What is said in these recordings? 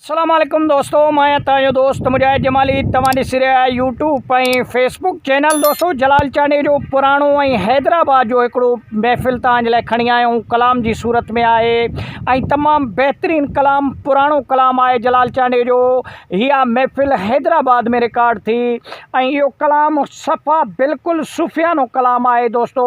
اسلام عليڪم دوستو مان آهيان توهان جو دوست مجاهد جمالي توهان ڏسي رهيا آهيو يوٽيوب ۽ فيس بڪ چينل دوستو جلال چانڊئي جو پراڻو ۽ حيدرآباد جو هڪڙو محفل توهان جي لاء کڻي آيا آهيون ڪلام جي صورت ۾ آهي ۽ تمام بهترين ڪلام پراڻو ڪلام آهي جلال چانڊئي جو اها محفل حيدرآباد ۾ رڪارڊ ٿي ۽ اهو ڪلام صفا بلڪل صوفيانو ڪلام آهي دوستو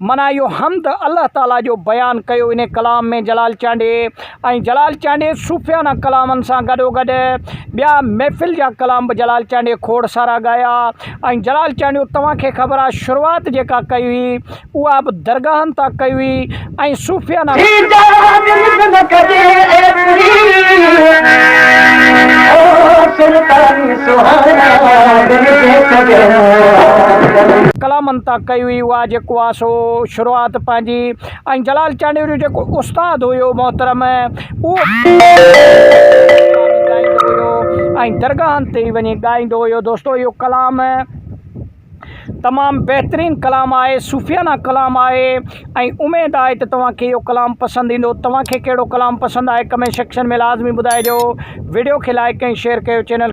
معنيٰ اهو حمد الله تعاليٰ جو بيان ڪيو انهي ڪلام ۾ جلال چانڊيي ۽ جلال چانڊيي صوفيانه ڪلامن سان گڏوگڏ ٻيا محفل جا ڪلام به جلال چانڊيي کوڙ سارا ڳايا ۽ جلال چانڊيو توهان کي خبر آهي شروعات جيڪا ڪئي هئي اها به درگاهن تان ڪئي هئي ۽ صوفيانه ڪلامن تان ڪئي هئي. اها جيڪو آ سو شروعات پنهنجي ۽ جلال چانڊيو جو جيڪو استاد هيو محترم اهو ڳائيندو هيو ۽ درگاهن تي وڃي ڳائيندو هيو دوستو اهو ڪلام تمام بهترين ڪلام آهي صوفيانه ڪلام آهي ۽ اميد آهي ته توهان کي اهو ڪلام پسند ايندو توهان کي ڪهڙو ڪلام پسند آهي ڪمينٽ سيڪشن ۾ لازمي ٻڌائجو ويڊيو کي لائڪ ۽ شيئر ڪيو چينل